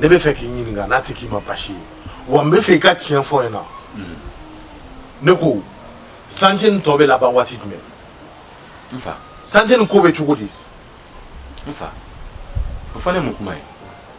ne b'a fɛ k'i ɲininka n'a tɛ k'i ma basi ye wa n b'a fɛ i ka tiɲɛ fɔ n ɲɛna ne ko santiye nin tɔ bɛ laban waati jumɛn n fa santiye nin ko bɛ cogo di n fa o fana ye mun kuma ye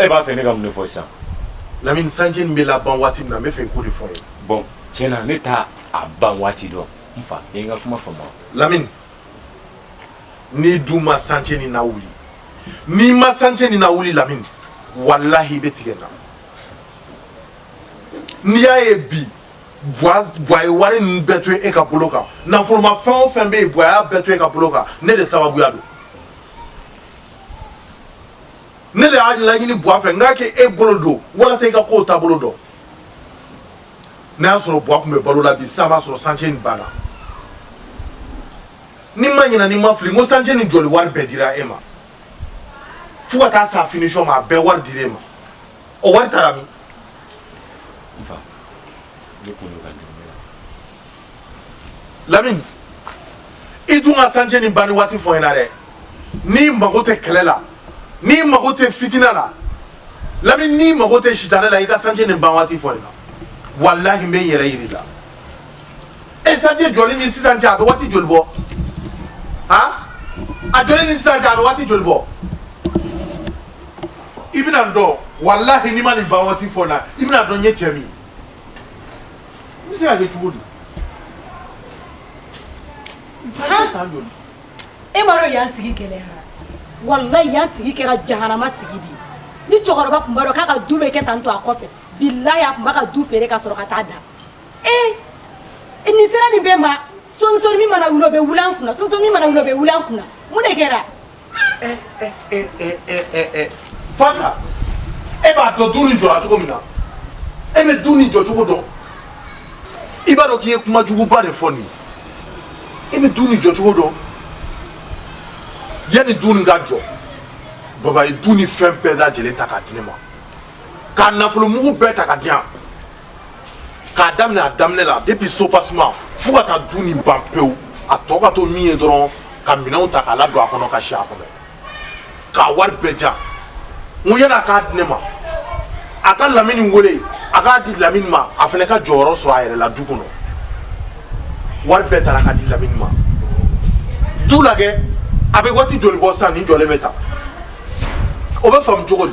e b'a fɛ ne ka mun de fɔ sisan lamini santiye nin bɛ laban waati min na n b'a fɛ i k'o de fɔ n ye bɔn tiɲɛ na ne t'a a ban waati dɔn n fa i ye n ka kuma faamu lamini n'i dun ma santiye nin lawuli n'i ma santiye nin lawuli lamini walahi i bɛ tigɛ n na n'i y'a ye bi bwa ye wari ninnu bɛɛ to e ka bolo kan nafolomafɛn o fɛn bɛ yen bwa y'a bɛɛ to e ka bolo kan ne de sababuya don ne de y'a laɲini buwa fɛ n k'a k'e bolo don walasa i ka kow taabolo dɔn n'a y'a sɔrɔ buwa tun bɛ balo la bi sisan b'a sɔrɔ santiye nin banna ni n ma ɲina ni n ma fili n ko santiye nin jɔli wari bɛɛ dira e ma fo ka taa s'a finisɔn ma a bɛɛ wari dira e ma o wari taara min n fa ne kun bɛ ka dɛmɛ la lamini i dun ka santiye nin banni waati fɔ n ɲɛna dɛ n'i mago tɛ kɛlɛ la n'i mago tɛ fitinɛ la lamini n'i mago tɛ sitanɛ la i ka santiye nin ban waati fɔ n ɲɛna walahi n bɛ n yɛrɛ yir'i la e santiye jɔli ni sisan cɛ a bɛ waati joli bɔ han a jɔli ni sisan cɛ a bɛ waati joli bɔ i bɛna n dɔn walahi n'i ma nin ban waati fɔ n ɲɛna i bɛn'a dɔn n ye cɛ min ye N bɛ se ka kɛ cogo di e m'a dɔn yan sigi gɛlɛya walahi yan sigi kɛra jahanama sigi de ni cɛkɔrɔba tun b'a dɔn k'a ka du bɛ kɛ tan to a kɔfɛ bilahi a tun b'a ka du feere ka sɔrɔ ka taa da e i ni sera nin bɛɛ ma sonson min mana wuli o bɛ wuli an kun sonson min mana wuli o bɛ wuli an kun mun de kɛra fata e b'a dɔn du ni jɔra cogo min na e bɛ du ni jɔ cogo dɔn i b'a dɔn k'i ye kuma juguba de fɔ nin i bɛ du ni jɔ cogo dɔn yanni du ni ka jɔ baba ye du ni fɛn bɛɛ lajɛlen ta k'a di ne ma k'a nafolo mugu bɛɛ ta ka di yan k'a daminɛ a daminɛ la depuis soubassement fo ka taa du nin ban pewu a tɔ ka to min ye dɔrɔn ka minɛnw ta k'a ladon a kɔnɔ ka si a kɔnɔ k'a wari bɛɛ ja n ko yann'a k'a di ne ma a ka lamini wele a k'a di lamini ma a fana ka jɔyɔrɔ sɔrɔ a yɛrɛ la du kɔnɔ wari bɛɛ tara ka di lamini ma du lajɛ a bɛ waati joli bɔ sisan nin jɔlen bɛ tan o bɛ faamu cogo di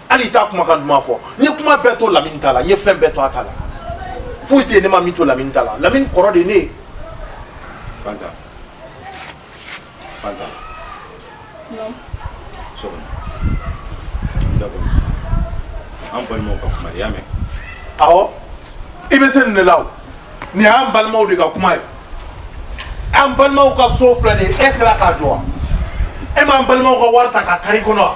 hali t'a kumakan duman fɔ n ye kuma bɛɛ to lamini ta la n ye fɛn bɛɛ to a ta la foyi tɛ yen ne ma min to lamini ta la lamini kɔrɔ de ne ye fanta fanta so d'accord an balimaw ka kuma i y'a mɛn awɔ i bɛ se nin de la o nin y'an balimaw de ka kuma ye an balimaw ka so filɛ nin ye e sera k'a jɔ wa e m'an balimaw ka wari ta ka kari kɔnɔ wa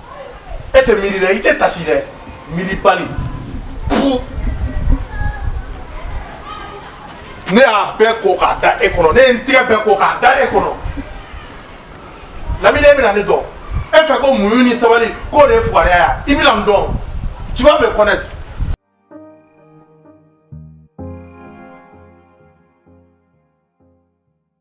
e tɛ miiri dɛ i tɛ taasi dɛ miiribali fu ne y'a bɛɛ ko k'a da e kɔnɔ ne ye n tigɛ bɛɛ ko k'a da e kɔnɔ lamini e bɛna ne dɔn e fɛ ko muɲu ni sabali k'o de ye fugariya ye i bɛna n dɔn tu vas me connaître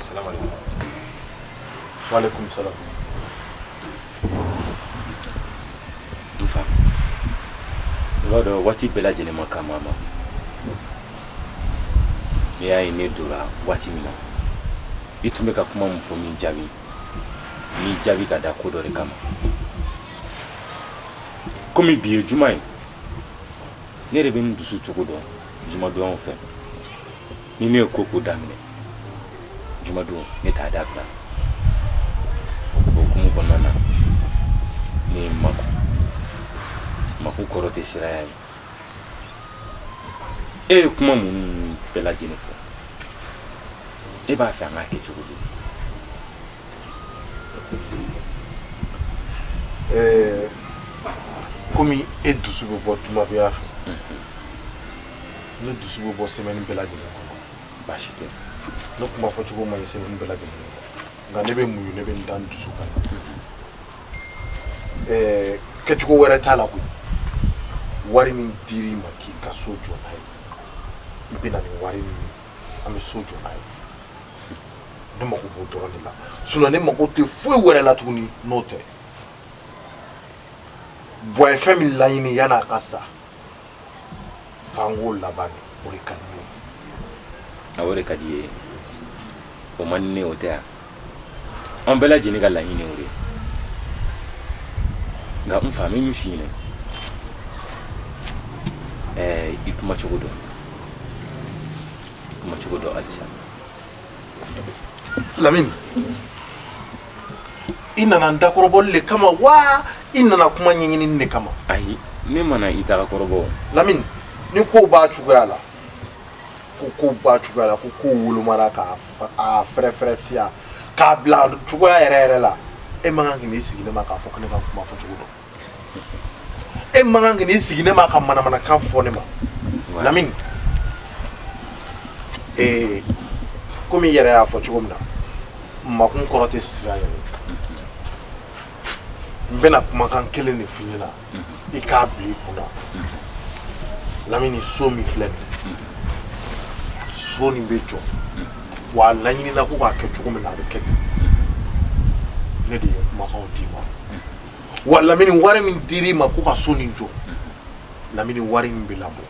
Salamu alaykum. Wa alaykum salam. Nfa. I b'a dɔn waati bɛɛ lajɛlen man kan a ma. I y'a ye ne donna waati min na. I tun bɛ ka kuma mun fɔ n m'i jaabi. N m'i jaabi ka da ko dɔ de kama. Komi bi ye juma ye. ne yɛrɛ bɛ n dusu cogo dɔn jumadonyaw fɛ ni ne ye ko o ko daminɛ jumadon ne t'a dabila o hukumu kɔnɔna na ne ye n makun makun kɔrɔ tɛ siranya ye e ye kuma minnu bɛɛ lajɛlen fɔ e b'a fɛ an k'a kɛ cogo di Ɛɛ kɔmi e dusu bɛ bɔ juma fɛ ne dusu bɛ bɔ semaine bɛɛ lajɛlen kɔnɔ baasi tɛ ne kuma fɔcogo man ɲi semaine bɛɛ lajɛlen nka ne bɛ muɲu ne bɛ n da n dusu kan ɛɛ kɛcogo wɛrɛ t'a la koyi wari min dira i ma k'i ka so jɔ n'a ye i bɛ na ni wari min an bɛ so jɔ n'a ye ne mako b'o dɔrɔn de la sinon ne mako tɛ foyi wɛrɛ la tuguni n'o tɛ bua ye fɛn min laɲini yann'a ka sa fanko laban de o de ka di ne ye a o de ka di ye o man di ne o tɛ yan an bɛɛ lajɛlen ka laɲini o de ye nka n fa n bɛ min f'i ɲɛna ɛɛ i kuma cogo dɔn i kuma cogo dɔn halisa Lamini i nana dakɔrɔbɔli de kama wa i nana kuma ɲɛɲini de kama ayi ne ma na i dakɔrɔbɔ lamini ni ko b'a cogoya la ko ko b'a cogoya la ko ko wolomara k'a fɛrɛfɛrɛ siya k'a bila cogoya yɛrɛ yɛrɛ la e man kan k'i sigi ne ma k'a fɔ ko ne ka kuma fɔ cogo dɔn e man kan k'i sigi ne ma ka manamanakan fɔ ne ma lamini ee komi i yɛrɛ y'a fɔ cogo min na makun kɔrɔ tɛ siranya ye n bɛna kumakan kelen de f'i ɲɛna i k'a bila i kunna lamini so min filɛ nin so nin bɛ jɔ wa a laɲinina ko k'a kɛ cogo min na a bɛ kɛ ten ne de ye kumakanw d'i ma wa lamini wari min dir'i ma ko ka so nin jɔ lamini wari min bɛ labɔ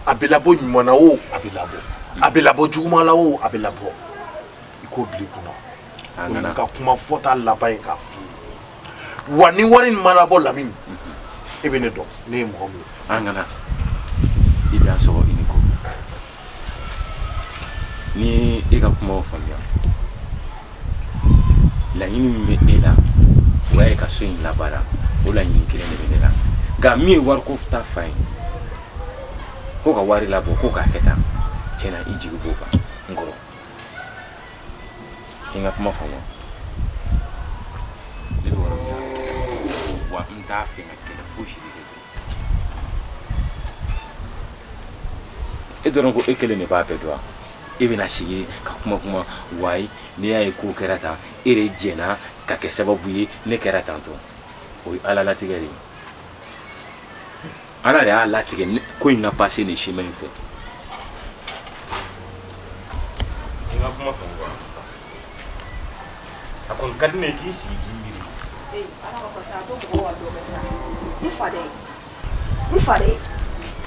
a bɛ labɔ ɲuman na o a bɛ labɔ a bɛ labɔ juguman la o a bɛ labɔ i k'o bila i kunna o ye n ka kuma fɔta laban ye k'a f'i ye wa ni wari nin ma labɔ lamini e bɛ ne dɔn ne ye mɔgɔ min ye an kana i dan sɔgɔ i ni ko n y'i ka kuma faamuya laɲini min bɛ e la o y'a ye ka so in labaara o laɲini kelen de bɛ ne la nka min ye wariko ta fan ye ko ka wari labɔ ko k'a kɛ tan tiɲɛ na i jigi b'o kan n kɔrɔ i ka kuma faamu ne bɛ yɔrɔ min na wa n t'a fɛ ka kɛlɛ fosi de kɛ e dɔrɔn ko e kelen de b'a bɛɛ dɔn e bɛna sigi ka kuma kuma wayi n'i y'a ye ko kɛra tan e de jɛnna ka kɛ sababu ye ne kɛra tan tɔ o ye ala latigɛ de ye ala de y'a latigɛ ko in na pase nin siman in fɛ a kɔni ka di ne ye k'i sigi k'i miiri Ee Ala ma kɔsa ko mɔgɔ wa dɔ bɛ sa n fa dɛ n fa dɛ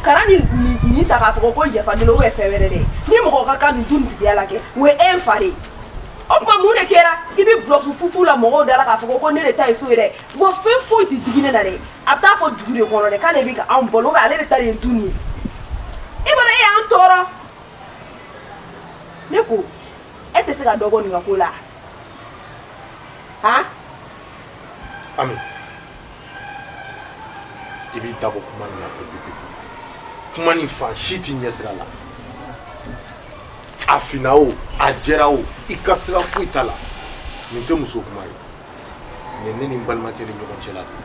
kana nin nin- nin ta k'a fɔ ko yafa deli ou bien fɛn wɛrɛ dɛ ni mɔgɔ ka kan ni du nin tigiya la kɛ o ye e n fa de ye o tuma mun de kɛra i bɛ bulɔfu fufu la mɔgɔw da la k'a fɔ ko ne de ta ye so ye dɛ wa fɛn foyi tɛ digi ne na dɛ a bɛ taa fɔ dugu de kɔnɔ dɛ k'ale bɛ ka anw balo ou bien ale de ta de ye du nin ye i b'a dɔn e y'an tɔɔrɔ ne ko e tɛ se ka dɔ bɔ nin ka ko la han ami i b'i da bɔ kuma nin na pepepepe kuma nin fan si t'i ɲɛsira la a finna o a jɛra o i ka sira foyi t'a la nin tɛ muso kuma ye nin ne ni n balimakɛ ni ɲɔgɔn cɛla de ye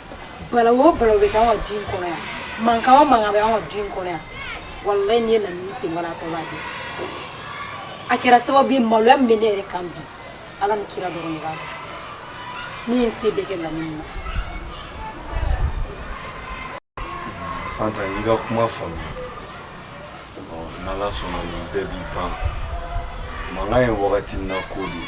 bala o bala bɛ k'an ka du in kɔnɔ yan mankan o mankan bɛ an ka du in kɔnɔ yan walayi n'i ye lamini sen bɔra a tɔ b'a dɔn a kɛra sababu ye maloya min bɛ ne yɛrɛ kan bi ala ni kira dɔrɔn de b'a dɔn ne ye n se bɛɛ kɛ lamini na fanta i ka kuma faamuya n'ala sɔnna nin bɛɛ bɛ ban mankan ye wagati na ko de ye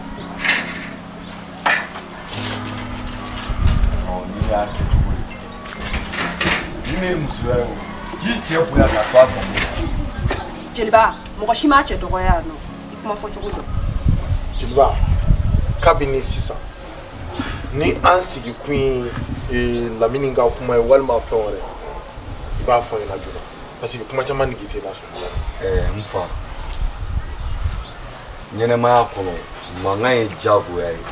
Jeliba mɔgɔ si ma cɛ dɔgɔya yan nɔ i kuma fɔ cogo dɔn jeliba kabini sisan ni an sigi kun ye eh, lamini ka kuma ye walima fɛn wɛrɛ i b'a fɔ n ɲɛna joona parce que kuma caman nige tɛ lasɔn eh, n fa ɲɛnamaya kɔnɔ mankan ye jagoya ye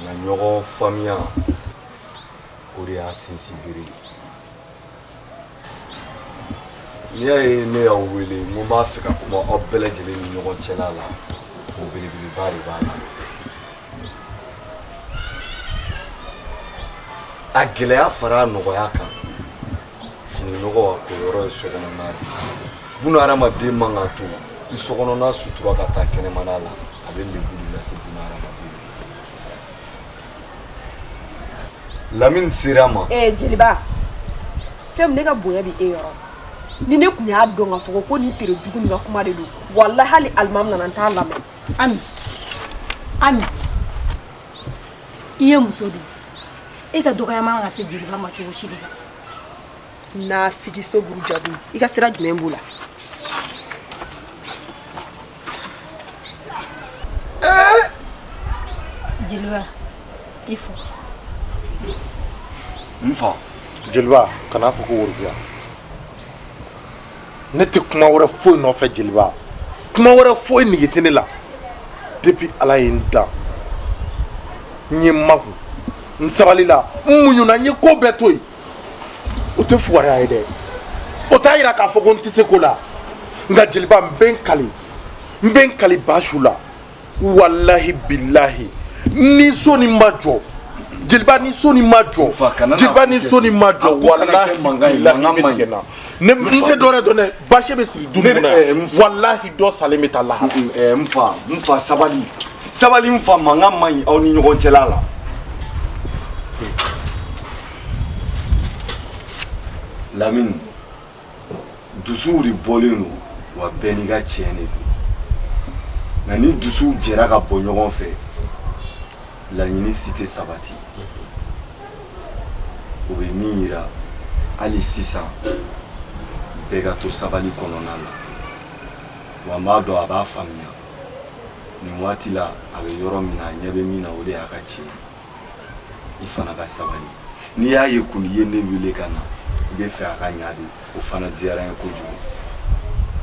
nka ɲɔgɔn faamuya o de y'a sinsinbere ye n'i y'a ye ne y'aw wele n ko n b'a fɛ ka kuma aw bɛɛ lajɛlen ni ɲɔgɔn cɛla la o belebeleba de b'a la a gɛlɛya fara a nɔgɔya kan fini nɔgɔ ka ko yɔrɔ ye sokɔnɔna de buna hadamaden man ka to i sokɔnɔna sutura ka taa kɛnɛmana la a bɛ lebu de lase buna hadamaden ma lamini sera ma ee jeliba fɛn min ne ka bonya bɛ e yɔrɔ ni ne tun y'a dɔn ka fɔ ko nin tere jugu nin ka kuma de don walahi hali alimami nana n t'a lamɛn ami ami i ye muso de e ka dɔgɔya man ka se jeliba ma cogo si de la naafigi sunguru jugu i ka sira jumɛn b'o la jeliba i fo n fa jeliba kan'a fɔ ko worobiya ne tɛ kuma wɛrɛ foyi nɔfɛ jeliba kuma wɛrɛ foyi nige tɛ ne la depuis ala ye n dan n ye n makun n sabalila n muɲuna n ye ko bɛɛ to yen o tɛ fugariya ye dɛ o t'a yira k'a fɔ ko n tɛ se ko la nka jeliba n bɛ n kali n bɛ n kali basiw la walahi bilahi ni so ni ma jɔ jeliba ni so ni ma jɔ jeliba ni so ni ma jɔ walahi bilahi bɛ tigɛ na ne n tɛ dɔwɛrɛ dɔn dɛ basi bɛ siri du nin na eh, walahi dɔ salen bɛ taa lahara. eh, n fa n fa sabali sabali n fa mankan man ɲi aw ni ɲɔgɔn cɛla la. lamini. dusuw de bɔlen don wa bɛɛ n'i ka tiɲɛ de don nka ni dusuw jɛra ka bɔ ɲɔgɔn fɛ laɲini si tɛ sabati o bɛ min yira hali sisan bɛɛ ka to sabali kɔnɔna na wa n b'a dɔn a b'a faamuya nin waati la a bɛ yɔrɔ min na a ɲɛ bɛ min na o de y'a ka tiɲɛ ye i fana ka sabali n'i y'a ye kɔni i ye ne wele ka na i b'a fɛ a ka ɲa de o fana diyara n ye kojugu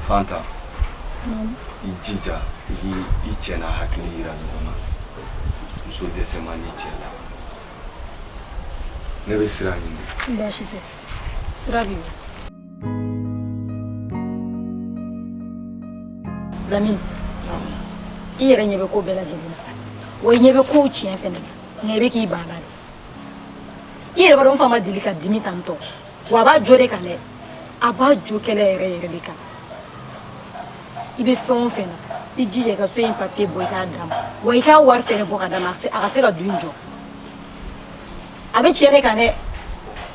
fanta i jija i k'i i cɛ n'a hakili yira ɲɔgɔn na muso dɛsɛ man di cɛ la ne bɛ sira ɲini baasi tɛ sira bɛ yen Lamini i yɛrɛ ɲɛ bɛ ko bɛɛ lajɛlen na wa i ɲɛ bɛ kow tiɲɛ fɛnɛ nka i bɛ k'i banna de i yɛrɛ b'a dɔn n fa ma deli ka dimi tan tɔ wa a b'a jo de kan dɛ a b'a jo kɛlɛ yɛrɛ yɛrɛ de kan i bɛ fɛn o fɛn na i jija i ka so in papiye bɔ i k'a d'a ma wa i k'a wari fɛnɛ bɔ ka d'a ma a se- a ka se ka du in jɔ a bɛ tiɲɛ de kan dɛ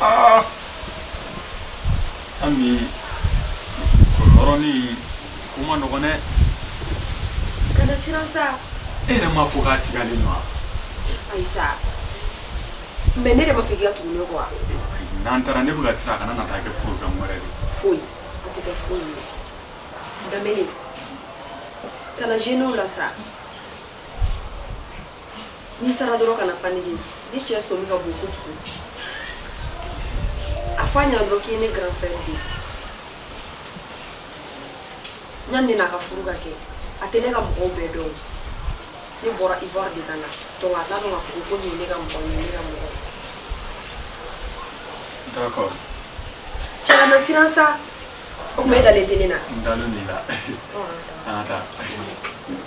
aa an bi kɔrɔlɔrɔnin ko man nɔgɔn dɛ kana siran sa e yɛrɛ m'a fɔ k'a sigalen don wa ayi sa mɛ ne de m'a fɔ k'i ka tugu ne kɔ wa n'an taara ne bɛ ka siran a kana na taa kɛ porobilɛmu wɛrɛ ye foyi a tɛ kɛ foyi ye danbele kana zenew la sa n'i taara dɔrɔn kana paniquer nin cɛ sɔmi ka bon kojugu a fɔ a ɲɛna dɔrɔn k'i ye ne grand frère de ye yanni an ka furu ka kɛ a tɛ ne ka mɔgɔw bɛɛ dɔn ne bɔra ivoire de ka na donc a t'a dɔn k'a fɔ ko nin ye ne ka mɔgɔ nin ye ne ka mɔgɔ d'accord cɛ kana siran sa o tuma e dalen tɛ ne na n dalen b'e la an ka taa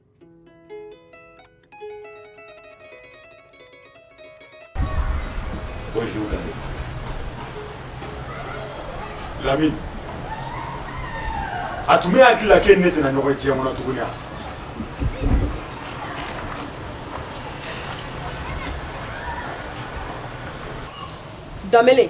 Bonjour, Lamine. Lamine. A tun b'e hakili la k'e ni ne tɛna ɲɔgɔn ye diɲɛ kɔnɔ tuguni wa? Danbele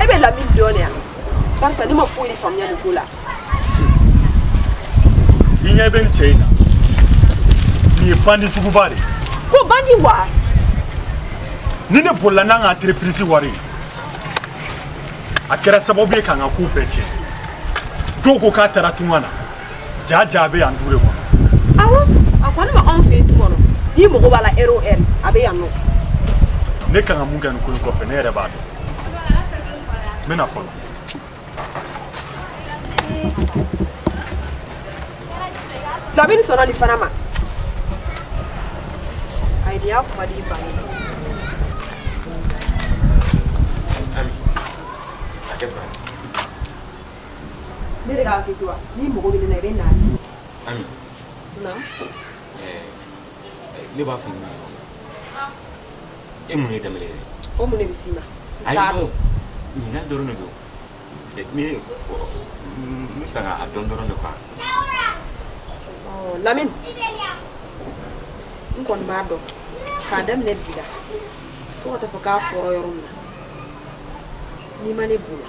e bɛ lamini dɔn de wa parce que ne ma foyi de faamuya nin ko la i ɲɛ bɛ nin cɛ in na nin ye bandi juguba de ye ko bandi wa nin de bolila n'an ka entreprise wari ye a kɛra sababu ye k'an ka kow bɛɛ tiɲɛ dɔw ko k'a taara tunga na ja ja bɛ yan du de kɔnɔ awɔ a kɔni bɛ anw fɛ yen du kɔnɔ n'i mago b'a la ɛri o ɛri a bɛ yan nɔ ne kan ka mun kɛ nin ko in kɔfɛ ne yɛrɛ b'a dɔn n bɛna fɔlɔ lamini sɔnna nin fana ma ayi nin y'a kuma di ba ye Ne de k'a kɛ to wa ni mɔgɔ bɛ ne na i bɛ na di Ami naamu ɛɛ ne b'a fɛ i ka na e mun ye Danbɛlɛ yɛrɛ o mun de bɛ s'i ma n t'a dɔn ɲinan dɔrɔn de don ɛ ne ɔ n bɛ fɛ k'a dɔn dɔrɔn de quoi ɔ Lamini n kɔni b'a dɔn k'a daminɛ bi la fo ka taa fɔ k'a fɔra yɔrɔ min na n'i ma ne bonya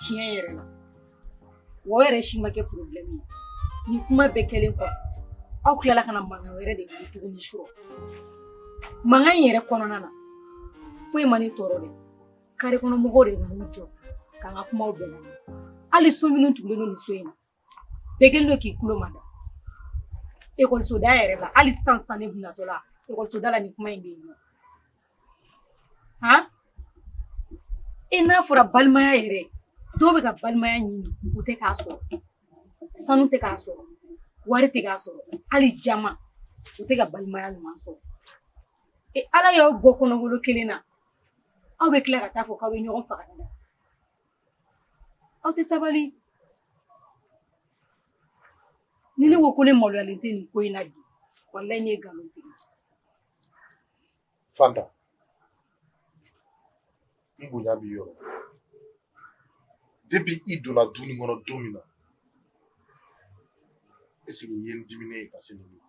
tiɲɛ yɛrɛ la o yɛrɛ si ma kɛ problème ye ni kuma bɛɛ kɛlen kɔfɛ aw tilala ka na mankan wɛrɛ de wuli tuguni surɔ mankan in yɛrɛ kɔnɔna na foyi ma ne tɔɔrɔ dɛ kare kɔnɔ mɔgɔw de nan'u jɔ k'an ka kumaw bɛɛ lamɛn hali so minnu tugulen don nin so in na bɛɛ kɛlen don k'i tulo mada ekɔlisoda yɛrɛ la hali sisan sisan ne bɛ natɔ la ekɔlisoda la nin kuma in bɛ yen nɔ han e n'a fɔra balimaya yɛrɛ dɔw bɛ ka balimaya ɲini u tɛ k'a sɔrɔ sanu tɛ k'a sɔrɔ wari tɛ k'a sɔrɔ hali jama u tɛ ka balimaya ɲuman sɔrɔ e ala y'aw bɔ kɔnɔbolo kelen na aw bɛ tila ka taa fɔ k'aw bɛ ɲɔgɔn faga aw tɛ sabali ni ne ko ko ne maloyalen tɛ nin ko in na bi walayi ne ye nkalon tigɛ fanta n bonya b'i yɔrɔ depuis i donna du nin kɔnɔ don min na e sigi ye n diminen ye ka se nin ma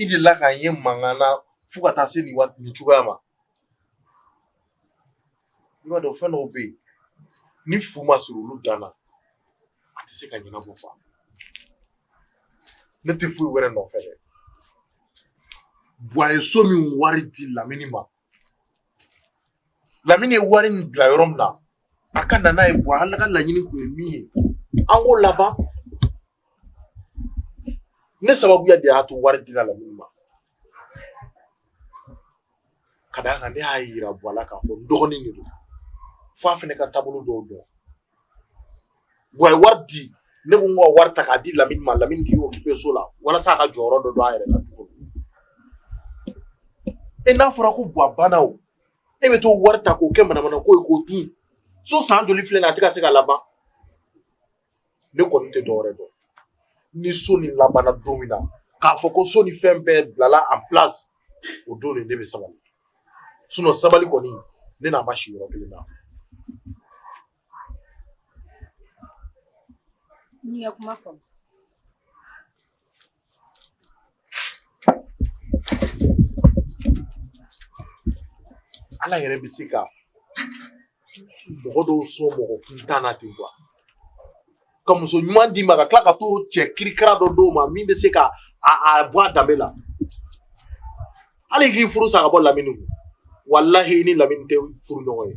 i delila ka n ye mankan na fo ka taa se nin waati nin cogoya ma i b'a dɔn fɛn dɔw bɛ yen ni fu ma siri olu dan na a tɛ se ka ɲɛnabɔ fa ne tɛ foyi wɛrɛ nɔfɛ dɛ buwa ye so min wari di lamini ma lamini ye wari min bila yɔrɔ min na a ka na n'a ye buwa ale ka laɲini kun ye min ye an k'o laban ne sababu de y'a to wari dira lamini ma ka d'a kan ne y'a yira buwa la k'a fɔ n dɔgɔnin de don f'a fana ka taabolo dɔw dɔn buwa ye wari di ne ko n ka wari ta k'a di lamini ma lamini k'i occuper so la walasa a ka jɔyɔrɔ dɔ don a yɛrɛ la cogo e n'a fɔra ko buwa banna o e bɛ t'o wari ta k'o kɛ manamana ko ye k'o dun so san joli filɛ nin a tɛ ka se ka laban ne kɔni tɛ dɔwɛrɛ dɔn ni so nin labanna don min na k'a fɔ ko so ni fɛn bɛɛ bilala en place o don nin ne bɛ sabali sinon sabali kɔni ne n'a ma si yɔrɔ kelen na kuma Ala yɛrɛ bɛ se ka mɔgɔ dɔw sɔn mɔgɔ kuntan na ten quoi ka muso ɲuman d'i ma ka tila ka to cɛ kirikara dɔ d'o ma min bɛ se ka a bɔ a danbe la hali k'i furu sa ka bɔ lamini kun walahi i ni lamini tɛ furu ɲɔgɔn ye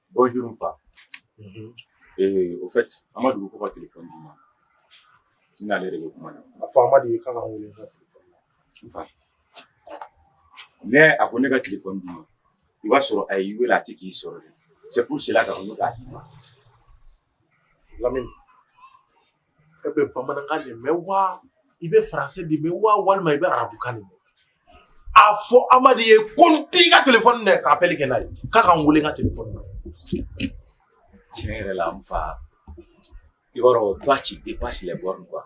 Bonjour n fa. Unhun. Ee au fait Amadu ko ko ka téléphone d'i ma. N n'ale de bɛ kuma na. A fɔ Amadu ye k'a ka n wele n ka téléphone na. N fa. Mais a ko ne ka téléphone d'i ma. I b'a sɔrɔ a y'i wele a tɛ k'i sɔrɔ de. C'est pour cela k'a ko ne k'a d'i ma. lamini e bɛ bamanankan de mɛn wa i bɛ faransɛ de mɛn wa walima i bɛ arabukan de mɛn a fɔ amadu ye ko n t'i ka telefɔni minɛ k'apɛli kɛ n'a ye k'a ka n wele n ka telefɔni na tiɲɛ yɛrɛ la n fa i b'a dɔn toi tu dépasses les bornes quoi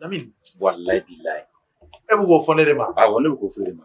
lamini walayi bilayi e bɛ k'o fɔ ne de ma awɔ ne bɛ k'o fɔ e de ma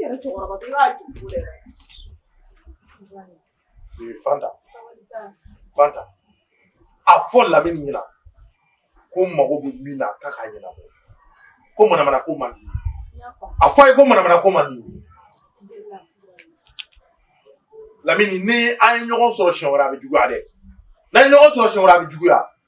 yɛrɛ cɛkɔrɔba i b'a ju cogo dɛ. Ee Fanta. Fanta. A fɔ Lamini ɲɛna ko n mago bɛ min na k'a k'a ɲɛnabɔ. Ko manamana ko man di. A fɔ a ye ko manamana ko man di. Lamini ni an ye ɲɔgɔn sɔrɔ siɲɛ wɛrɛ a bɛ juguya dɛ. N'an ye ɲɔgɔn sɔrɔ siɲɛ wɛrɛ a bɛ juguya.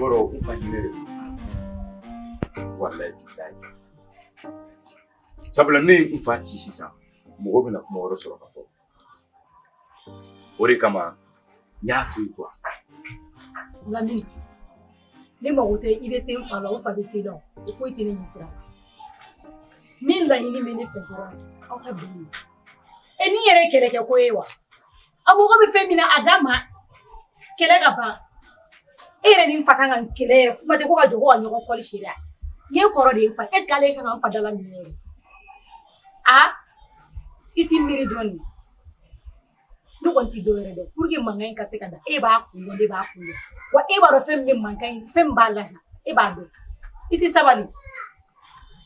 Bora ufanyile wallahi billahi sabula ne n fa ci sisan mɔgɔ bɛna kuma wɛrɛ sɔrɔ ka fɔ o de kama Nyatu yuko. Lamini. Ne mago tɛ i bɛ se n fa la o n fa bɛ se i la o foyi tɛ ne ɲɛ sira min laɲini bɛ ne fɛ dɔrɔn aw ka bɛn e nin yɛrɛ kɛlɛkɛ ko ye wa a mago bɛ fɛn min na a d'a ma kɛlɛ ka ban e yɛrɛ ni n fa kan ka kɛlɛ yɛrɛ kuma tɛ ko ka jɔ ko ka ɲɔgɔn kɔli si la n ye kɔrɔ de ye n fa est ce que ale kan ka n fa dala minɛ yɛrɛ a i t'i miiri dɔɔnin ne kɔni tɛ dɔ wɛrɛ dɔn pour que mankan in ka se ka da e b'a kun dɔn ne b'a kun dɔn wa e b'a dɔn fɛn min bɛ mankan in fɛn min b'a lasa e b'a dɔn i tɛ sabali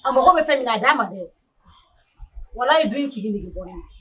a mago bɛ fɛn min na a d'a ma dɛ walayi du in sigi nege bɔra ne na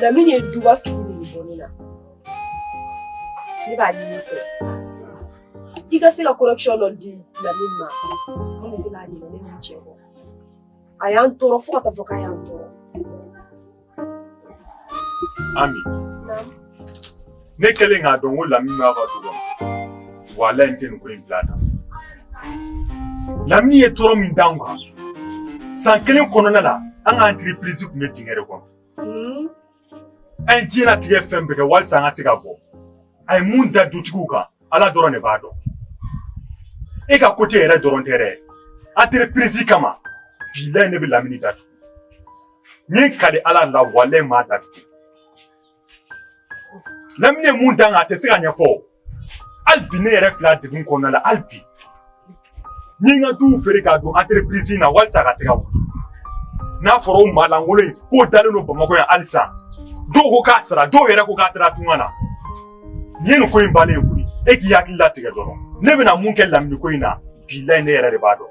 Lamini ye duba sigi ni bɔ ne la ne b'a ɲini i fɛ i ka se ka correction dɔ di Lamini ma an bɛ se ka ɲinɛ nin cɛ kɔ a y'an tɔɔrɔ fo ka taa fɔ k'a y'an tɔɔrɔ Ami ne kɛlen k'a dɔn ko lamini b'a ka du kɔnɔ walayi n tɛ nin ko in bila tan lamini ye tɔɔrɔ min d'anw kan san kelen kɔnɔna la an ka entreprise tun bɛ dingɛ de kɔnɔ hmm? an ye diɲɛnatigɛ fɛn bɛɛ kɛ walisa an ka se ka bɔ a ye mun da dutigiw kan ala dɔrɔn de b'a dɔn e ka kote yɛrɛ dɔrɔn tɛ dɛ entreprise kama bilayi ne bɛ lamini datugu n ye n kali ala la walayi n b'a datugu Lamini ye mun d'an kan a tɛ se ka ɲɛfɔ hali bi ne yɛrɛ filɛ degun kɔnɔna la hali bi n ye n ka duw feere k'a don entreprise in na walisa a ka se ka wuli n'a fɔra o maa lankolon in k'o dalen don bamakɔ yan halisa dɔw ko k'a sara dɔw yɛrɛ ko k'a taara tunga na nin ye nin ko in bannen ye koyi e k'i hakili latigɛ dɔrɔn ne bɛna mun kɛ lamini ko in na bilayi ne yɛrɛ de b'a dɔn.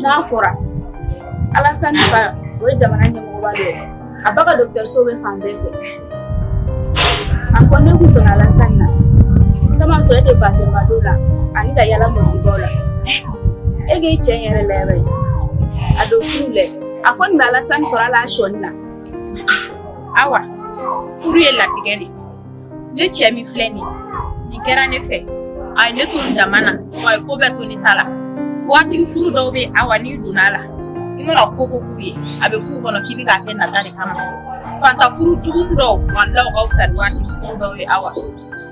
n'a fɔra ala o ye jamana ɲɛmɔgɔba dɔ ye a ba ka dɔgɔtɔrɔso bɛ fan bɛɛ fɛ a fɔ ne kun sɔnna alasan na sama sɔrɔ e tɛ bazɛnba don la ani ka yaala mɔgɔbaw la e k'i cɛ yɛrɛ layɛ bɛ a don furu lɛ a fɔ nin bɛ alasan sɔrɔ ala sɔnni na awa furu ye latigɛ de ne cɛ min filɛ nin nin kɛra ne fɛ a ye ne to n dama na wa a ye ko bɛɛ to ne ta la waatigi furu dɔw bɛ awa n'i donna a la i mana ko o ko k'u ye a bɛ k'u kɔnɔ k'i bɛ k'a kɛ nata de kama fanta furu jugu dɔw walayi u ka fisa ni waatigi furu dɔw ye awa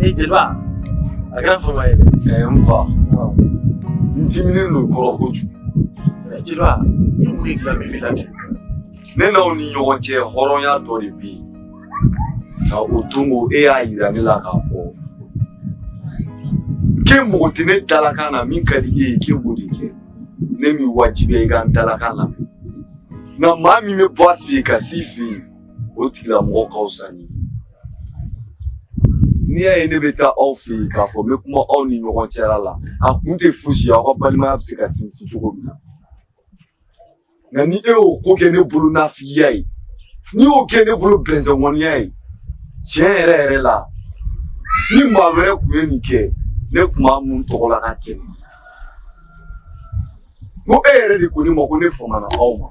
ee jeliba a kɛra fama ye dɛ n fa n diminen don i kɔrɔ kojugu jeliba i kun ye dilan bɛɛ la kɛ ne n'aw ni ɲɔgɔn cɛ hɔrɔnya dɔ de bɛ yen nka o don ko e y'a yira ne la k'a fɔ k'e mago tɛ ne dalakan na min ka di e ye k'e b'o de kɛ ne m'i wajibiya i ka n dalakan lamɛn nka maa min bɛ bɔ a fɛ yen ka s'i fɛ yen o tigilamɔgɔ ka fisa ni n'i y'a ye ne bɛ taa aw fɛ yen k'a fɔ n bɛ kuma aw ni ɲɔgɔn cɛla la a kun tɛ fosi ye aw ka balimaya bɛ se ka sinsin cogo min na nka ni e y'o ko kɛ ne bolo nafigiya ye n'i y'o kɛ ne bolo bɛnsɛnkɔniya ye tiɲɛ yɛrɛ yɛrɛ la ni maa wɛrɛ tun ye nin kɛ ne tun b'a mun n tɔgɔ la ka tɛmɛ ko e yɛrɛ de ko ne ma ko ne famana aw ma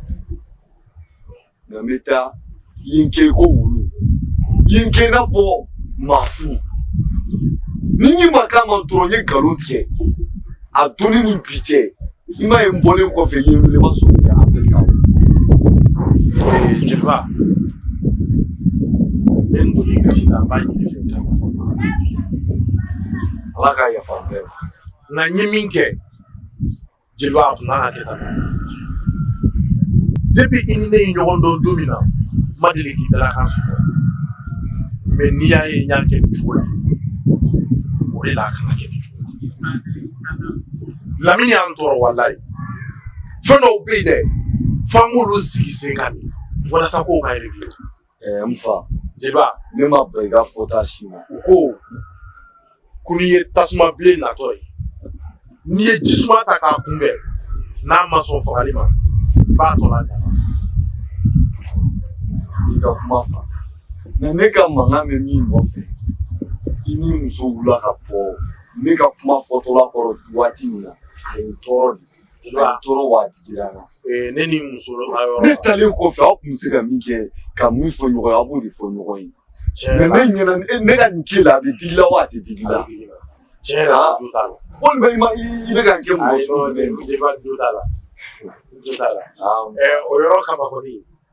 Nka n bɛ taa yen kɛ ko wulu yen kɛ ka fɔ ma f ni ni ma ka ma dɔrɔn ye nkalon tigɛ a don ni bi cɛ i ma ye n bɔlen kɔfɛ yen wele ma so jeliba ne n doni ka a b'a ɲini i fɛ ala k'a yafa bɛɛ nka n ye min kɛ jeliba a tun man kan ka kɛ tan depi i ni ne ye ɲɔgɔn dɔn don min na n ma deli k'i dalakan sɔsɔ mɛ n'i y'a ye n y'a kɛ nin cogo la o de la a kana kɛ nin cogo la lamini y'an tɔɔrɔ walayi fɛn dɔw bɛ yen dɛ f'an k'olu sigi sen kan de walasa ko ka réglé Ɛɛ n fa jeliba ne ma ban i ka fɔta si ma u ko ko n'i ye tasuma bilen natɔ ye n'i ye ji suma ta k'a kunbɛn n'a ma sɔn fagali ma i b'a tɔ la n y'i ka kuma faamu ne ka mankan bɛ min nɔfɛ i ni muso wulila ka bɔ ne ka kuma fɔtɔla kɔrɔ waati min na a ye n tɔɔrɔ de A tɔɔrɔ wa a digira n na ne ni muso ne taalen kɔfɛ aw tun bɛ se ka min kɛ ka min fɔ ɲɔgɔn ye aw b'o de fɔ ɲɔgɔn ye mɛ ne ɲɛna ne ka nin k'i la a bɛ digi i la wa a tɛ digi i la tiɲɛ na walima i ma i bɛ ka kɛ mɔgɔ sɔrɔ la o yɔrɔ kaba kɔni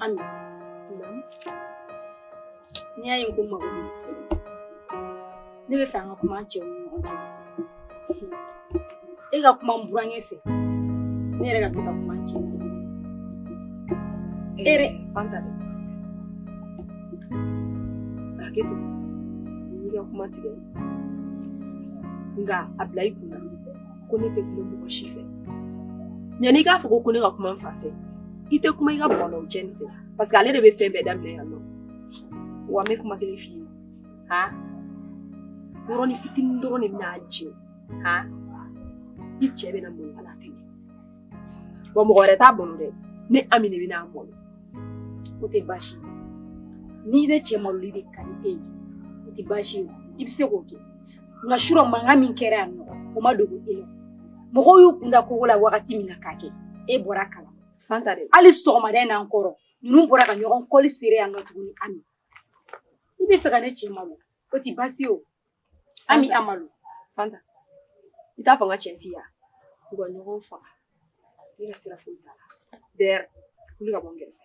Ami, n'i y'a ye ko mago bɛ ne bɛ fɛ an ka kuma an cɛw ni ɲɔgɔn cɛ e ka kuma n burankɛ fɛ ne yɛrɛ ka se ka kuma n cɛ fɛ e yɛrɛ fanta dɛ hakɛ to n y'i ka kuma tigɛ nka a bila i kun na ko ne tɛ kuma mɔgɔ si fɛ yanni i k'a fɔ ko ko ne ka kuma n fa fɛ i tɛ kuma i ka bɔlɔw cɛ nin fɛ parce que ale de bɛ fɛn bɛɛ daminɛ yan nɔ wa n bɛ kuma kelen f'i ye ha yɔrɔnin fitinin dɔrɔn de bɛna a jɛ ha i cɛ bɛna mɔni ala tɛmɛ wa mɔgɔ wɛrɛ t'a bɔnɔ dɛ ne ami de bɛna a mɔni o tɛ baasi ye ni ne cɛ maloli de ka di e ye o tɛ baasi ye i bɛ se k'o kɛ nka surɔ mankan min kɛra yan nɔ o ma dogo e la mɔgɔw y'u kun da kogo la wagati min na k'a kɛ e bɔra kala fanta dɛ hali sɔgɔmada in na n kɔrɔ ninnu bɔra ka ɲɔgɔn kɔli sere yan nɔ tuguni ami i bɛ fɛ ka ne cɛ malo o tɛ baasi ye o ami a malo fanta i t'a to n k'a jɛ f'i ye u ka ɲɔgɔn faga ne ka sira foyi t'a la dɛrɛ wuli ka bɔ n kɛrɛfɛ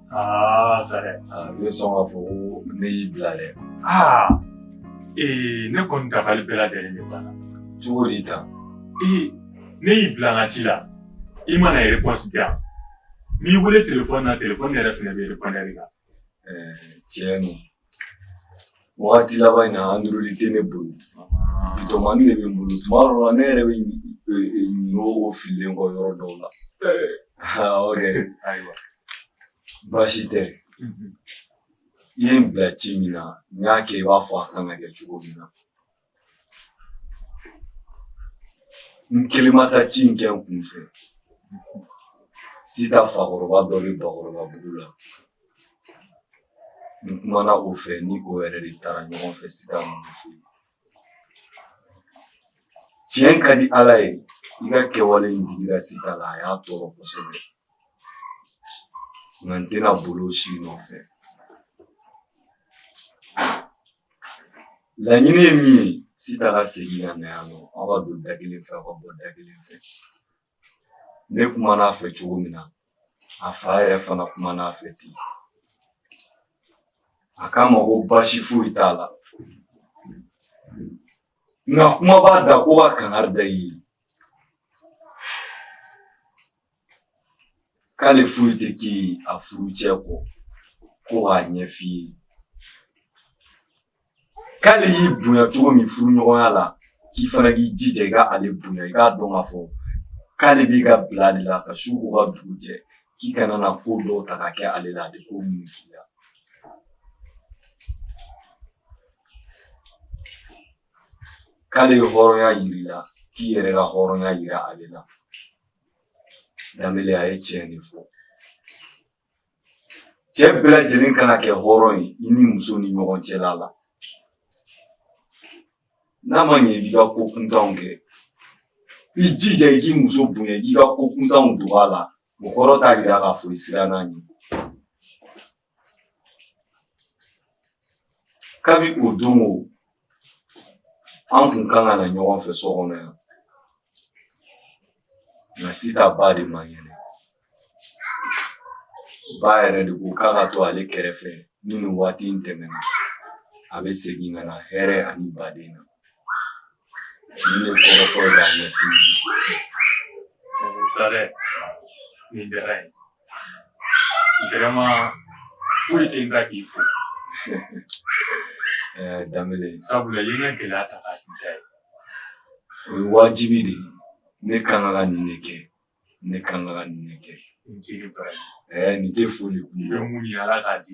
Aa Sare ne sɔn k'a fɔ ko ne y'i bila dɛ aa ee ne kɔni dabali bɛɛ lajɛlen de banna cogo di tan ee ne y'i bila n ka ci la i ma na réponse di yan n y'i wele telefɔni na telefɔni yɛrɛ fana bɛ répondeur la ɛɛ tiɲɛ don Wagati laban in na android tɛ ne bolo bitɔnmani de bɛ n bolo tuma dɔw la ne yɛrɛ bɛ ɲinɛ o fililen kɔ yɔrɔ dɔw la o de baasi tɛ i ye n bila ci min na n y'a kɛ i b'a fɔ a kan ka kɛ cogo min na n kelen ma taa ci in kɛ n kun fɛ sita fakɔrɔba dɔ bɛ bakɔrɔbabugu la n kumana o fɛ ni o yɛrɛ de taara ɲɔgɔn fɛ sita ninnu fɛ tiɲɛ ka di ala ye i ka kɛwale in digira sita la a y'a tɔɔrɔ kosɛbɛ nka n tɛna boli o si nɔfɛ laɲini ye min ye sita ka segin ka na yan nɔ aw ka don da kelen fɛ aw ka bɔ da kelen fɛ ne kumana a fɛ cogo min na a fa yɛrɛ fana kumana a fɛ ten a k'a ma ko baasi foyi t'a la nka kuma b'a da ko ka kangari da i ye k'ale foyi tɛ k'i ye a furucɛ kɔ ko k'a ɲɛf'i ye k'ale y'i bonya cogo min furuɲɔgɔnya la k'i fana k'i jija i ka ale bonya i k'a dɔn k'a fɔ k'ale b'i ka bila de la ka su ko ka dugu jɛ k'i kana na ko dɔw ta ka kɛ ale la a tɛ ko minnu k'i la k'ale ye hɔrɔnya yir'i la k'i yɛrɛ ka hɔrɔnya yira ale la danbele a ye tiɲɛ de fɔ cɛ bɛɛ lajɛlen kan ka kɛ hɔrɔn ye i ni muso ni ɲɔgɔn cɛla la n'a ma ɲɛ i b'i ka ko kuntanw kɛ i jija i k'i muso bonya i k'i ka ko kuntanw dogo a la o kɔrɔ t'a yira k'a fɔ i siranna a ɲɛ Kabi o don o an tun ka kan na ɲɔgɔn fɛ so kɔnɔ yan nka sita ba de man kɛnɛ ba yɛrɛ de ko k'a ka to ale kɛrɛfɛ ni nin waati in tɛmɛna a bɛ segin ka na hɛrɛ ani badenya nin de kɔrɔ fɔlɔ b'a ɲɛf'i ye. Sare, nin diyara n ye. Gɛrɛma foyi tɛ da k'i fo danbe sabula i ne gɛlɛya ta ka da ye o ye wajibi de ne kan ka nin de kɛ ne kan ka nin de kɛ nin tɛ foli kun bɛ mun ala k'a di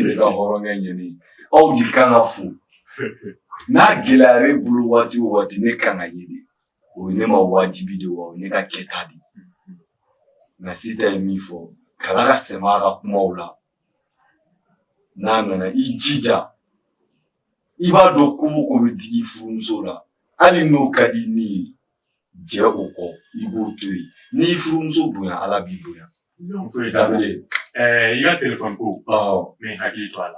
ne ka hɔrɔnkɛ ɲani aw de kan ka fo n'a gɛlɛyara i bolo waati waati ne kan ka ɲini o ye ne ma wajibi de wa o ye ne ka kɛta de nka sita ye min fɔ kala ka sɛma ka kumaw la n'a nana i jija i b'a dɔn ko mɔgɔ tɛ digi furumuso la hali n'o ka di ni ye jɛn o kɔ i b'o to yen n'i y'i furumuso bonya ala b'i bonya i ka telefɔni ko mɛ hakili to a la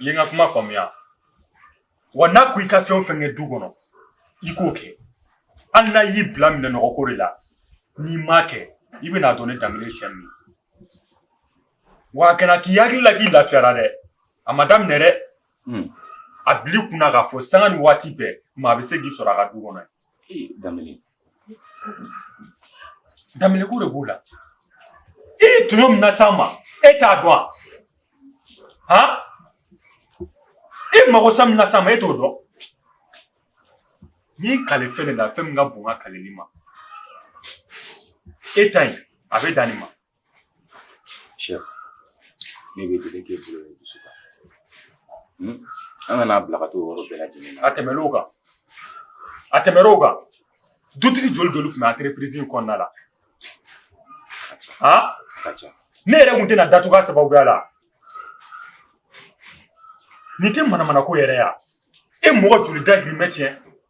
i ye n ka kuma faamuya wa n'a ko i ka fɛn o fɛn kɛ du kɔnɔ i k'o kɛ hali n'a y'i bila minɛn nɔgɔ ko de la n'i m'a kɛ i bɛn'a dɔn ne Danbele cɛ min wa a kana k'i hakili la k'i lafiyara dɛ a ma daminɛ dɛ a bil'i kun na k'a fɔ sanga ni waati bɛɛ maa bɛ se k'i sɔrɔ a ka du kɔnɔ yen. Ee, Danbele. Danbele ko de b'o la i ye tɔɲɔ min nas'an ma e t'a dɔn wa han i magosa min nas'an ma e t'o dɔn n'i kali fɛn de la fɛn min ka bon n ka kalili ma e ta in a bɛ dan nin ma Chef, ne b'e deli k'e bolo ye dusu kan. Hmm? An kana bila ka t'o yɔrɔ bɛɛ lajɛlen na. A tɛmɛn'o kan, a tɛmɛn'o kan, dutigi joli joli tun bɛ entreprise in kɔnɔna la? Han? A ka ca. Ne yɛrɛ tun tɛna datugu a sababuya la. Nin tɛ manamana ko yɛrɛ ye wa? E mɔgɔ joli dahirimɛ tiɲɛ?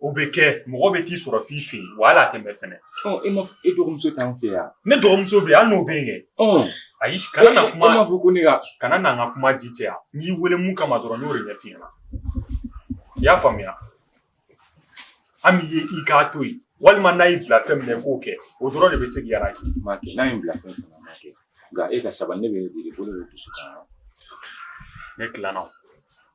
O bɛ kɛ mɔgɔ bɛ t'i sɔrɔ f'i fɛ yen wa hali a tɛ mɛn fɛnɛ. Ɔ e ma e dɔgɔmuso t'an fɛ yan. Ne dɔgɔmuso bɛ yen hali n'o bɛ yen kɛ. Ɔ ayi kana na kuma. E m'a fɔ ko ne ka. Kana na n ka kuma ji caya n y'i wele mun kama dɔrɔn n y'o de ɲɛf'i ɲɛna i y'a faamuya Ami ye i k'a to yen walima n'a y'i bila fɛn min na i k'o kɛ o dɔrɔn de bɛ se k'i arranger n m'a kɛ n'a ye n bila fɛn o fɛn na n m'a kɛ nka e ka sabali ne bɛ n sigi bolo bɛ n dusukun na ne tilenna o.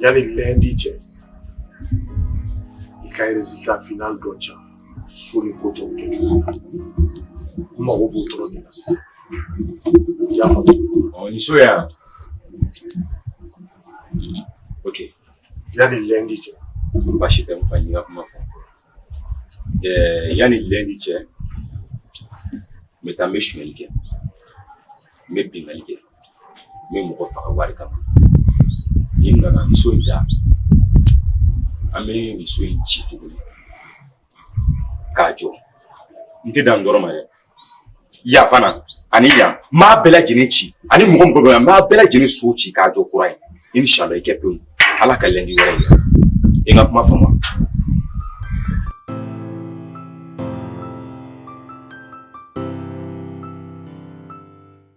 yani lɛndi cɛ i ka résultat final dɔ ca so ni ko tɔw kɛ cogo la n mago b'o dɔrɔn de la sisan i y'a faamu ni so yan ok yani lɛndi cɛ baasi tɛ n fa n ka kuma fɔ yani lɛndi cɛ n bɛ taa n bɛ sonyali kɛ n bɛ binkanni kɛ n bɛ mɔgɔ faga wari kama ni n nana nin so in da an bɛ nin so in ci tuguni k'a jɔ n tɛ dan nin dɔrɔn ma dɛ yan fana ani yan n b'a bɛɛ lajɛlen ci ani mɔgɔ o mɔgɔ bɛ yan n b'a bɛɛ lajɛlen so ci k'a jɔ kura ye inshallah i kɛ pewu ala ka lɛndi wɛrɛ yira i ka kuma faamu